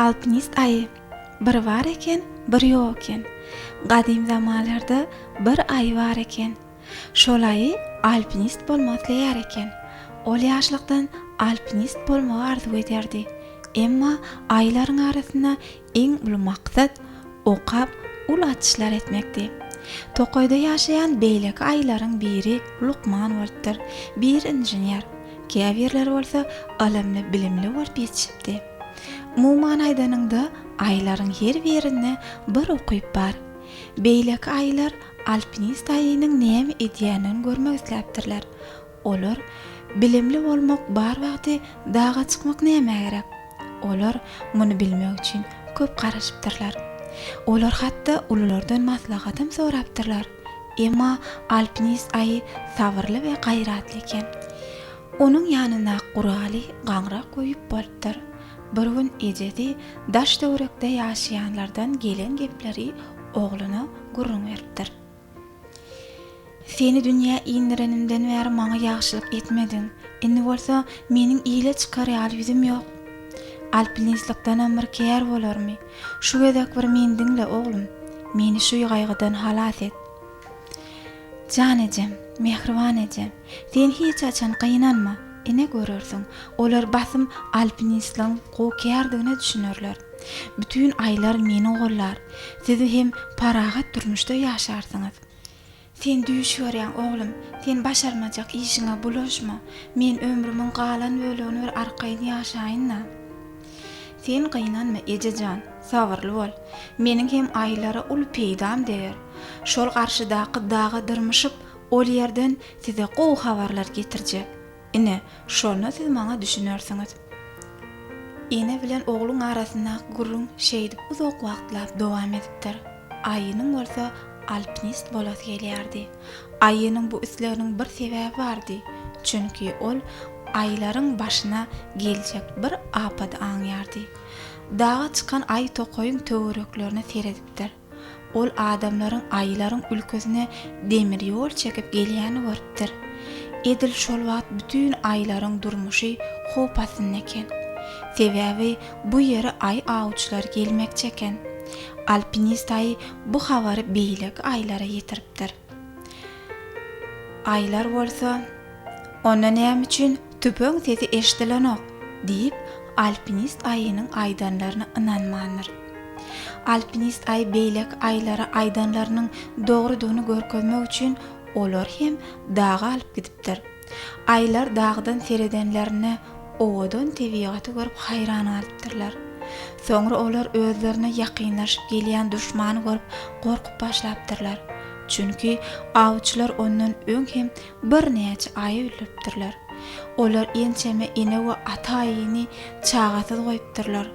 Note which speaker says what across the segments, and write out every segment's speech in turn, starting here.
Speaker 1: Alpinist aýy. Bir bar eken, bir ýok eken. Gadym zamanlarda bir aýy bar eken. Şol aýy alpinist bolmak isleýär eken. Ol ýaşlykdan alpinist bolmagy arzuw ederdi. Emma aýylaryň arasynda Iň uly maksat okap, uly açyşlar etmekdi. Tokaýda ýaşaýan beýleki aýylaryň biri lukman bolupdyr, biri inžener, käbirleri bolsa ylymly, bilimli bolup ýetişipdi. Umuman aýdanyňda, aýylaryň her birinde bir ukyp bar. Beýleki aýylar alpinist aýynyň näme edýändigini görmek isläpdirler. Olar, Bilimli bolmak bar wagty daga çykmak nämä gerek? Olar muny bilmek üçin köp garaşypdyrlar. Olar hatda ululardan maslahatam sorapdyrlar. Emma alpinist aýy sabyrly we gaýratly eken. Onuň ýanyndaky guraly gaňrak we ýüp bolupdyr. Bir gün ejesi daş-töwerekde ýaşaýanlardan gelen gepleri ogluna gürrüň beripdir. Seni dünýä indirenimden bäri maňa ýagşylyk etmediň. Indi bolsa meniň ile çykar ýaly ýüzüm ýok. Alpinistlikdenem bir kär bolarmy? Şu gezek bir meni diňle, oglum. Meni şu gaýgydan halas et. Jan ejem, mähriban eje! Sen hiç haçan gynanma, ine görersiň, olar basym alpinistligiň gowy kärdigine düşünerler. Bütin aýlar meni gollar. Siz hem parahat durmuşda ýaşarsyňyz. Sen düýş görýäň, oglum. Sen başarmajak işiňe bulaşma. Men ömrümiň galan bölegini bir arkaýyn ýaşaýyn-da. Sen gynanma, eje jan, sabyrly bol. Meniň hem aýlara uly peýdam deger. Şol garşydaky daga dyrmyşyp, Ol ýerden size gowy habarlar getirjek. Ine, şonda siz maňa düşünersiňiz. Ene bilen ogluň arasyndaky gürrüň şeýdip uzak wagtlap dowam edipdir. Aýynyň bolsa alpinist bolasy gelýärdi. Aýynyň bu isleginiň bir sebäbi bardy, çünki ol aýylaryň başyna geljek bir apady aňýardy. Daga çykan aýy tokaýyň töwereklerine seredipdir. Ol adamlaryň aýylaryň ülkesine demir ýol çekip gelýänini görüpdir. Edil şol wagt bütin aýylaryň durmuşy howp astynda eken. Sebäbi bu ýere aýy awçylary gelmekçi eken. Alpinist aýy bu habary beýleki aýylara ýetiripdir. Aýlar bolsa, Onda näme üçin tüpeň sesi eşdilenok? diýip, alpinist Aýynyň aýdanlaryna ynanmandyr. Alpinist Aý beýleki Aýlara aýdanlarynyň dogrudygyny görkezmek üçin olary hem daga alyp gidipdir. Aýlar dagdan seredenlerinde owadan tebigaty görüp haýran galypdyrlar. Soňra olar özlerine ýakynlaşyp gelýän duşmany görüp gorkup başlapdyrlar. Çünki awçylar ondan öň hem birnäçe aýy öldüripdirler. Olar ençeme ene we ata aýyny çagasyz goýupdyrlar.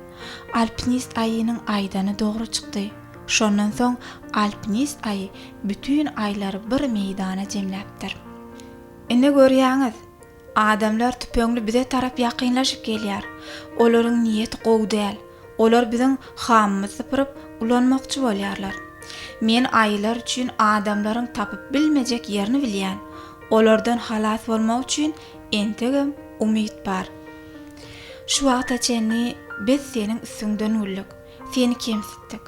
Speaker 1: Alpinist aýynyň aýdany dogry çykdy. Şondan soň alpinist aýy bütin aýlary bir meýdana jemläpdir. Ine görýäňiz, adamlar tüpeňli bize tarap ýakynlaşyp gelýär. Olaryň niýeti gowy däl. Olar biziň hamymyzy sypyryp, ulanmakçy bolýarlar. Men aýylar üçin adamlaryň tapyp bilmejek ýerini bilýän. Olardan halas bolmak üçin entegem umyt bar. Şu wagta çenli biz seniň üstüňden güldük, seni kemsitdik.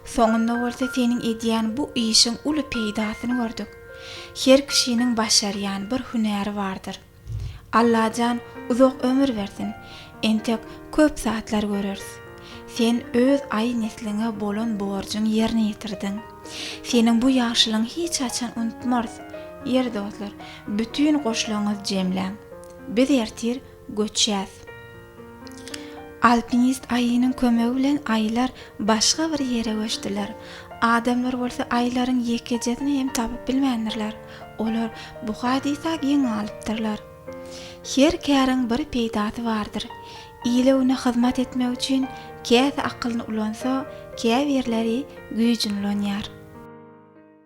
Speaker 1: Soňunda bolsa seniň edýän bu işiň uly peýdasyny gördük. Her kişiniň başarýan bir hünäri bardyr. Allajan uzak ömür bersin, entek köp zatlar göreris. Sen öz aý nesliňe bolan borjuň ýerine ýetirdiň. Seniň bu ýagşylygyň hiç haçan unutmarys. Ýeri dostlar, bütin goşlaryňyzy jemläň. Biz ertir göçýäs. Alpinist aýynyň kömegi bilen aýylar başga bir ýere göçdüler. Adamlar bolsa aýylaryň ýekejesini hem tapyp bilmändirler. Olar bu hadysa geň galypdyrlar. Her käriň bir peýdasy bardyr. Ile-güne hyzmat etmek üçin käsi akylyny ulansa, käbirleri güýjüni ulanýar.